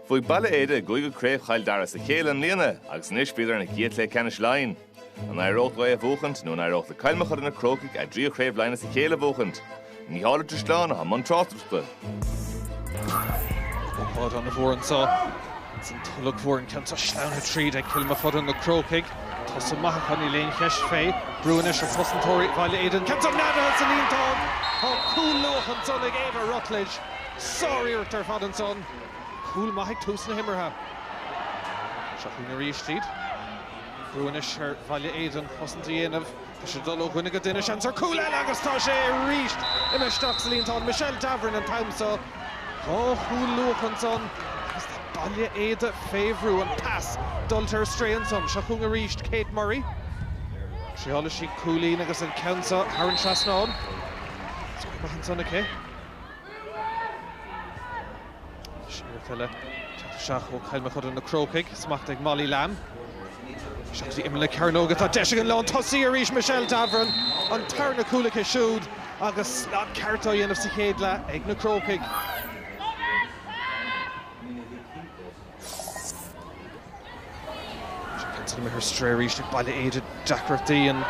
Bhuaigh Baile Éide a gcúigiú Craobh Chill Dara as a chéile i mbliana agus anois bhíodar ina gcéad Chluiche Ceannais Laighin. An éireodh leo é a bhuachaint nó an éireodh le Cill Mochuda Na Crócaigh a dtríú Craobh Laighin as a chéile a bhuachaint? Mícheál Ó Drisleáin atá i mbun tráchtaireachta. Ócáid ana mhór anseo ins an Tulach Mhór an ceann seo sleamhnaithe tríd ag Cill Mochuda Na Crócaigh. Tosach maith acu, níl aon cheist fé. Brú anois ar chosantóirí Bhaile Éide an ceann seo neadaithe san líontán! Tá cúl luath anseo ag Éabha Rutledge. Sáriarracht ar fad ansan. Cúl maith ag tús na himeartha. Seo chugainn arís iad. Brú anois ar Bhaile Éide an chosaint a dhéanamh. Tá siad ag dul ó dhuine go duine. Seans ar chúl eile agus tá sé arís imithe isteach sa líontán. Michelle Davoren an t-am seo. Dhá chúl luath ansan agus tá Baile Éide fé bhrú. An pas dulta ar strae ansan. Seo chugainn arís Kate Murray. Triailfidh sí cúilín agus an ceann seo thar an trasnán. Scór maith ansan aici. Seo liathróid eile teacht isteach ó Chill Mochuda Na Crócaigh, smacht ag Molly Lamb. Isteach go dtí imeall na cearnóige, tá deis ag an lántosaí arís Michelle Davoren, an tarna cúl aici siúd agus slad ceart á dhéanamh sa chéad leath ag na Crócaigh. An ceann san imithe ar strae arís ag Baile Éide. Deacrachtaí an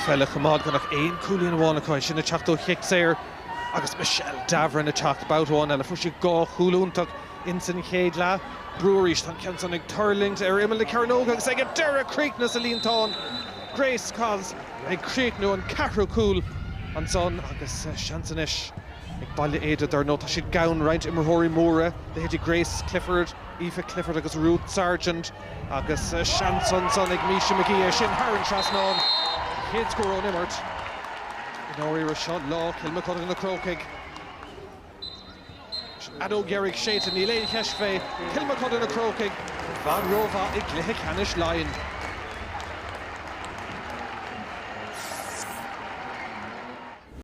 pheil a choimeád gan ach aon cúilín amháin acu, é sin ag teacht ó chic saor agus Michelle Davoren ag teacht babhta amháin eile. Fuair sí dhá chúl iontach ins an chéad leath. Brú arís. Tá an ceann san ag tuirlingt ar imeall na cearnóige agus ag an deireadh críochnaithe sa líontán. Grace Kós ag críochnú an ceathrú cúl ansan agus seans anois. Ag Baile Éide, dar ndóigh, tá siad gann roinnt imreoirí móra, leithéidí Grace Clifford, Aoife Clifford agus Ruth Sargent agus seans ansan ag Misha Magee é sin thar an trasnán, an chéad scór ón imirt. I ndáiríre, seo lá Chill Mochuda Na Crócaigh. Leis an fheadóg dheiridh séidte, níl aon cheist fé, Cill Mochuda Na Crócaigh, i bhfad rómhaith i gcluiche ceannais Laighean.